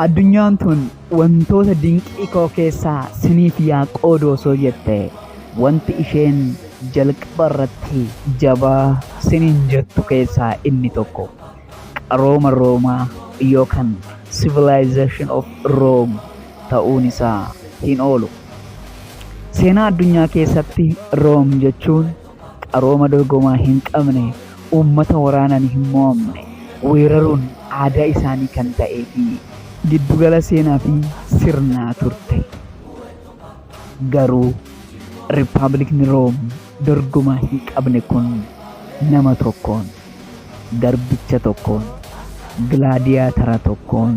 Addunyaan tun wantoota dinqii koo keessaa siniif yaa qoodu osoo jette wanti isheen jalqaba irratti jabaa siniin jettu keessaa inni tokko qarooma Roomaa yookaan civilization of Rome ta'uun isaa hin oolu. Seenaa addunyaa keessatti Room jechuun qarooma dorgomaa hin qabne, uummata waraanaan hin mo'amne weeraruun aadaa isaanii kan ta'ee fi. giddu gala seenaa fi sirnaa turte. Garuu Rippaabilikni Room dorgomaa hin qabne kun nama tokkoon, garbicha tokkoon, gilaadiyaatara tokkoon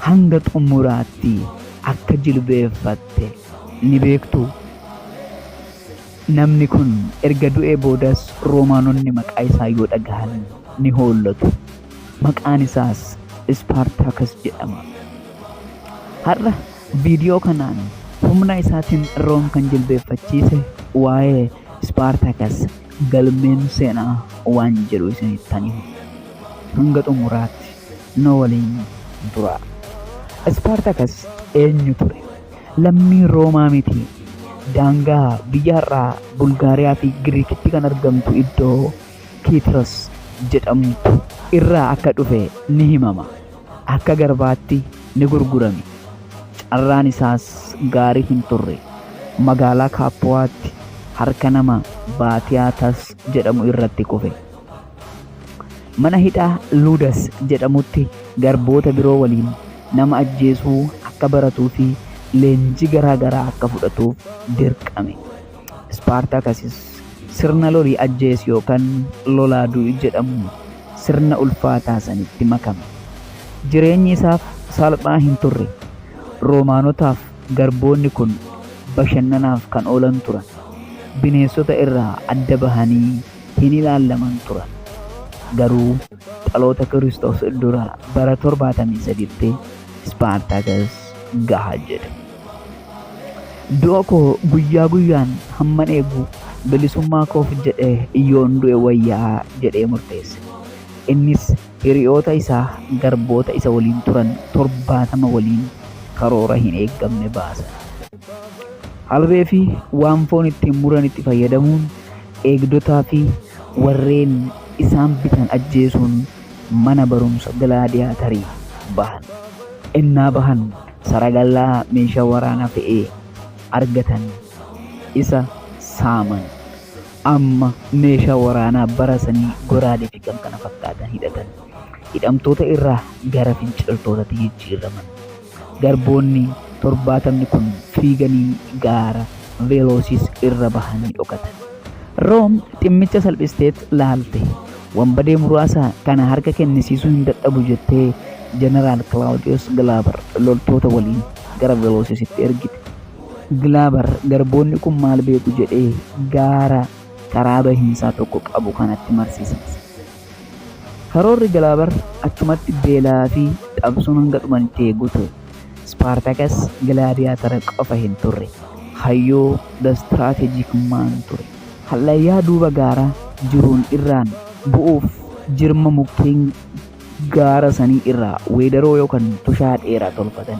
hanga xumuraatti akka jilbeeffatte ni beektuu? Namni kun erga du'ee boodas Roomaanonni maqaa isaa yoo dhagahan ni hoollatu. Maqaan isaas Ispaartaakas jedhama. Har'a viidiyoo kanaan humna isaatiin Room kan jilbeeffachiise waa'ee Ispaartaakas galmeen seenaa waan jedhu isinittan hima. Hanga xumuraatti nu waliin turaa. Ispaartaakas eenyu ture? lammii Roomaa miti. Daangaa biyya har'aa Bulgaariyaa fi Giriikitti kan argamtu iddoo Kiitros jedhamtu irraa akka dhufe ni himama. Akka garbaatti ni gurgurame. Carraan isaas gaarii hin turre. Magaalaa Kaappuwaatti harka nama Baatiyaatas jedhamu irratti kufe. Mana hidhaa Ludas jedhamutti garboota biroo waliin nama ajjeesuu akka baratuu fi leenjii garaa garaa akka fudhatuuf dirqame. Ispaartaakasis sirna lolii ajjeesi yookaan lolaa du'i jedhamu sirna ulfaataa sanitti makame. Jireenyi isaaf salphaa hin turre. Roomaanotaaf garboonni kun bashannanaaf kan oolan turan. Bineensota irraa adda bahanii hin ilaallaman turan. Garuu dhaloota Kiristoos dura bara 73tti Ispaartaakas gaha jedhe. Du'a koo guyyaa guyyaan hamman eegu bilisummaa koof jedhee yoon du'e wayyaa jedhee murteesse. Innis hiriyoota isaa garboota isa waliin turan 70 waliin karoora hin eeggamne baasan. Harree fi waan foon ittiin muran itti fayyadamuun eegdotaa fi warreen isaan bitan ajjeesuun mana barumsa gilaadiyaatarii bahan. Innaa bahan saragallaa meeshaa waraanaa fe'ee argatan isa saaman. Amma meeshaa waraanaa bara sanii goraadee fi kan kana fakkaatan hidhatan. Hidhamtoota irraa gara finciltootatti jijjiiraman. Garboonni torbaatamni kun fiiganii gaara Velosis irra bahanii dhokatan. Room dhimmicha salphisteet laalte. Wanbadee muraasa kana harka kennisiisuu hin dadhabu jettee Jeneraal Kilaawudiyoos Gilaabar loltoota waliin gara Velosisitti ergite. Gilaabar garboonni kun maal beeku jedhee gaara karaa bahiinsaa tokko qabu kanatti marsisiise. Karoorri Gilaabar achumatti beelaa fi dhabsuun hanga dhumanitti eeguu ture. Ispaartaakas gilaadiyaatara qofa hin turre. Hayyuu the strategic man ture. Hallayyaa duuba gaaraa jiruun irraan bu'uuf jirma mukkeen gaara sanii irraa weedaroo yookaan tushaa dheeraa tolfatan.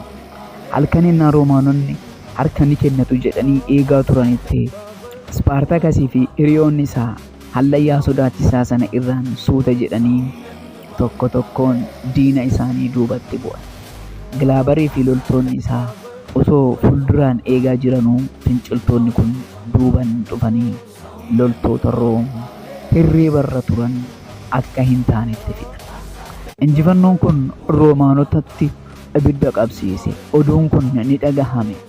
Halkan innaa Roomaanonni harka ni kennatu jedhanii eegaa turanitti Ispaartaakasii fi hiriyoonni isaa Hallayyaa sodaachisaa sana irraan suuta jedhanii tokko tokkoon diina isaanii duubatti bu'an. Gilaabarii fi loltoonni isaa osoo fulduraan eegaa jiranuu finciltoonni kun duuban dhufanii loltoota Room hirriibarra turan akka hin taanetti fixan. Injifannoon kun Roomaanotatti ibidda qabsiise. Oduun kun ni dhagahame.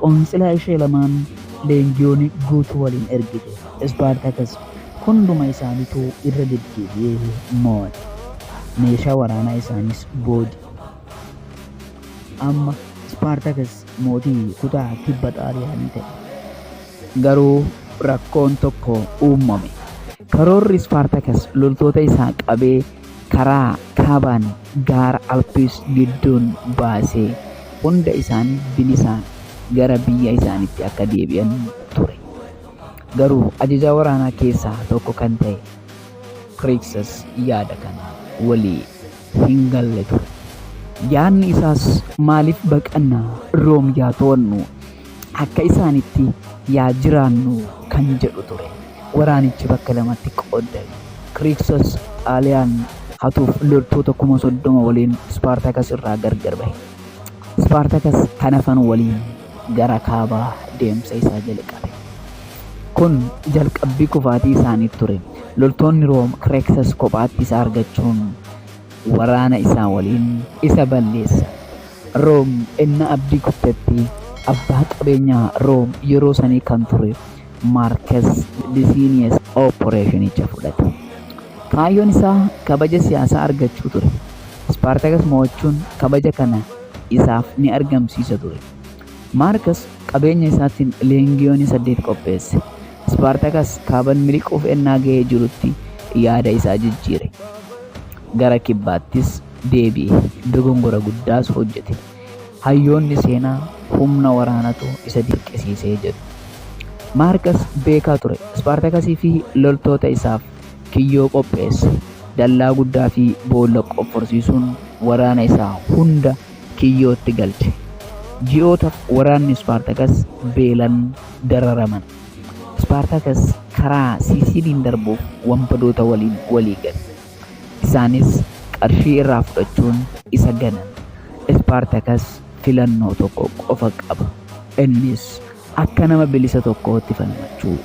qoonsilaa ishee lamaan leenjiyooni guutuu waliin ergite Ispaartakas hunduma isaanituu irra deddeebi'ee moo'ate. Meeshaa waraanaa isaaniis booji'e. Amma Ispaartakas mootii kutaa kibba Xaaliyaanii ta'e. Garuu rakkoon tokko uummame. Karoorri Ispaartakas loltoota isaa qabee karaa kaabaan gaara Alpiis gidduun baasee hunda isaanii bilisaan gara biyya isaaniitti akka deebi'an ture. Garuu ajajaa waraanaa keessaa tokko kan ta'e Kiriiksas yaada kana walii hin galle ture. Yaadni isaas maaliif baqanna Room yaa to'annu akka isaanitti yaa jiraannu kan jedhu ture. Waraanichi bakka lamatti qooddame. Kiriiksos Xaaliyaan hatuuf loltoota kuma soddoma waliin Ispaartakas irraa gargar bahe. Ispaartakas kan hafan waliin gara kaabaa deemsa isaa jalqabe. Kun jalqabbii kufaatii isaanii ture. Loltoonni Room Kiriiksos kophaatti isa argachuun waraana isaa waliin isa balleessan. Room ennaa abdii kuttetti, abbaa qabeenyaa Room yeroo sanii kan ture Maarkes Lisiiniyes oppireeshinicha fudhate. Kaayyoon isaa kabaja siyaasaa argachuu ture. Ispaartakas mo'achuun kabaja kana isaaf ni argamsiisa ture. Maarkes qabeenya isaatiin leengiyoonii saddeet qopheesse. Ispaartakas kaaban miliquuf ennaa ga'ee jirutti yaada isaa jijjiire. Gara kibbaattis deebi'e, dogongora guddaas hojjete. Hayyoonni seenaa humna waraanatu isa dirqisiise jedhu. Maarkas beekaa ture. Ispaartakasii fi loltoota isaaf kiyyoo qopheesse. Dallaa guddaa fi boolla qofforsiisuun waraana isaa hunda kiyyootti galche. Ji'ootaaf waraanni Ispaartakas beelan dararaman. Ispaartakas karaa Siisiiliin darbuuf wanbadoota waliin walii gale. Isaanis qarshii irraa fudhachuun isa ganan. Ispaartakas filannoo tokko qofa qaba, innis akka nama bilisa tokkootti falmachuu.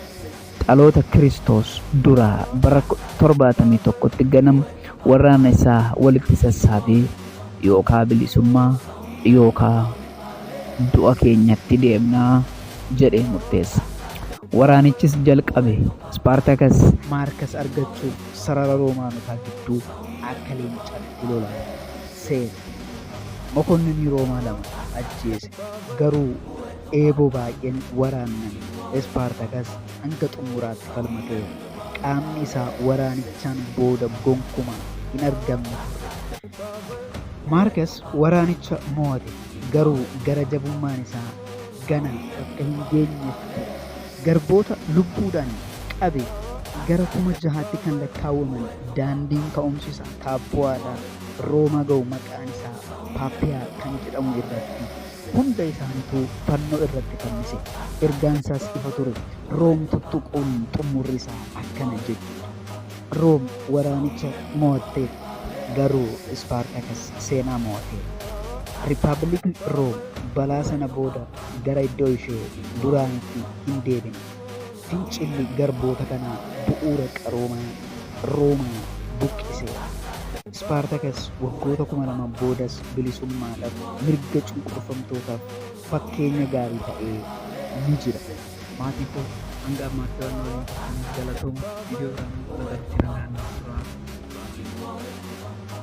Dhaloota Kiristoos duraa bara 71tti ganam warraana isaa walitti sassaabee yookaa bilisummaa yookaa du'a keenyatti deemna jedhee murteessa. Waraanichis jalqabe. Ispaartakas Maarkas argachuuf. sarara Roomaanotaa gidduu akka leencatti lolan seene. Mokonninii Roomaa lama ajjeese, garuu eeboo baay'een waraanname. Ispaartakas hanga xumuraatti falmateera. Qaamni isaa waraanichaan booda gonkumaa hin argamne ture. Maarkas waraanicha mo'ate, garuu gara jabummaan isaa ganaa akka hin geenyetti ture. Garboota lubbuudhaan qabe gara kuma jahaatti kan lakkaawwaman daandiin ka'umsi isaa Kaappoo'aa irraa Roomaa ga'u maqaan isaa Paappiyaa kan jedhamu irratti hunda isaanituu fannoo irratti fannise. Ergaan isaas ifa ture. Room tuttuquun xummurri isaa akkana jechuudha. Room waraanicha mo'atteetti, garuu Ispaartaakas seenaa mo'ateera. Rippabilikni Room balaa sana booda gara iddoo ishee duraaniitti hin deebine. Fincilli garboota kanaa bu'uura qaroomaa Roomaa buqqise. Ispaartakas waggoota 2000 boodas bilisummaadhaaf, mirga cunqurfamtootaaf fakkeenya gaarii ta'ee ni jira. Maatii koo hanga ammaatti waan na waliin turtaniif galatooma. Viidiyoo biraan wal argitti nagaan nuuf turaa.